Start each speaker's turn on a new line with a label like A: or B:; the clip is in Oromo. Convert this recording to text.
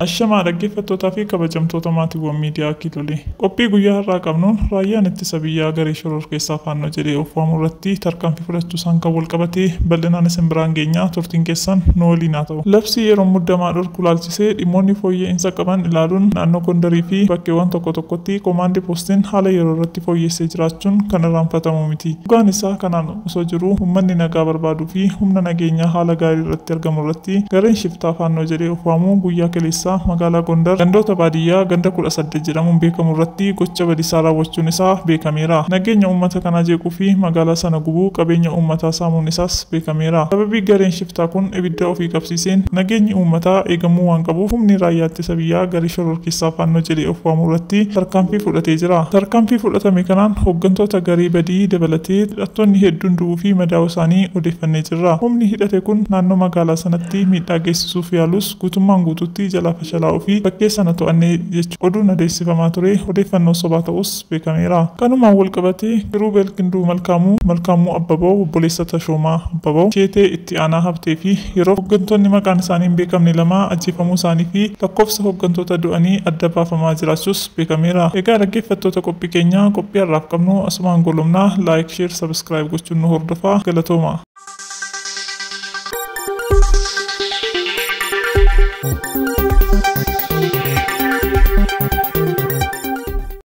A: Ashamaa dhaggeeffattootaa fi kabajamtoota maatiiwwan miidiyaa Kiilolee. Qophii guyyaa har'aa qabnuun raayyaan ittisa biyyaa garee shororkeessaa faannoo jedhee of waamu irratti tarkaanfii fudhachuu isaan kan wal qabatee bal'inaan isin biraan geenyaa turtiin keessan nu waliin haa ta'u. Labsii yeroo muddamaa dhorku ilaalchisuun ilaalchisee dhimmoonni fooyya'insa qaban ilaaluun naannoo Gondarii fi bakkeewwan tokko tokkotti Komaandi Poostiin haala yeroo irratti fooyyessee jiraachuun kan irraanfatamu miti. Dhugaan isaa kanaan osoo jiruu uummanni nagaa barbaaduu fi humna nageenyaa haala gaarii irratti argamu irratti gareen shiftaa Faannoo jedhee of waamu guyyaa kaleessaa magaalaa Gondar gandoota baadiyyaa ganda kudha saddeet jedhamuun beekamu irratti gocha badisaa raawwachuun isaa beekameera. Nageenya uummata kanaa jeequu fi magaalaa sana gubuu qabeenya uummataa saamuun isaas beekameera. Sababii gareen Shiftaa kun ibidda ofii qabsiiseen nageenyi uummataa eegamuu waan qabuuf humni Raayyaa Ittisa Biyyaa garee shororkeessaa Faannoo jedhee of waamu irratti tarkaanfii fudhatee jira. Tarkaanfii fudhatame kanaan hoggantoota garee badii dabalatee hidhattoonni hedduun du'uu fi madaa'uu isaanii odeeffannee jirra. Humni hidhate kun naannoo magaalaa sanatti miidhaa geessisuuf yaalus guutummaan guutuutti jalaa fashalaa'uu fi bakkee sana to'anne jechuun oduun adeessifamaa ture odeeffannoo sobaa ta'us, beekameera. Kanumaan walqabatee Kiruubeel Kinduu Malkaamuu, Malkaamuu Abbabaw, obboleessa Tashoomaa Abbabaw, Jeetee itti aanaa Habtee fi yeroof hoggantoonni maqaan isaanii hin beekamne lama ajjeefamuu isaanii fi lakkoofsa hoggantoota du'anii adda baafamaa jiraachuus beekameera. Egaa dhaggeeffattoota qophii keenyaa, qophii har'aaf qabnu asumaan goolabna. Like, Share, Subscribe gochuun nu hordofaa. Galatooma!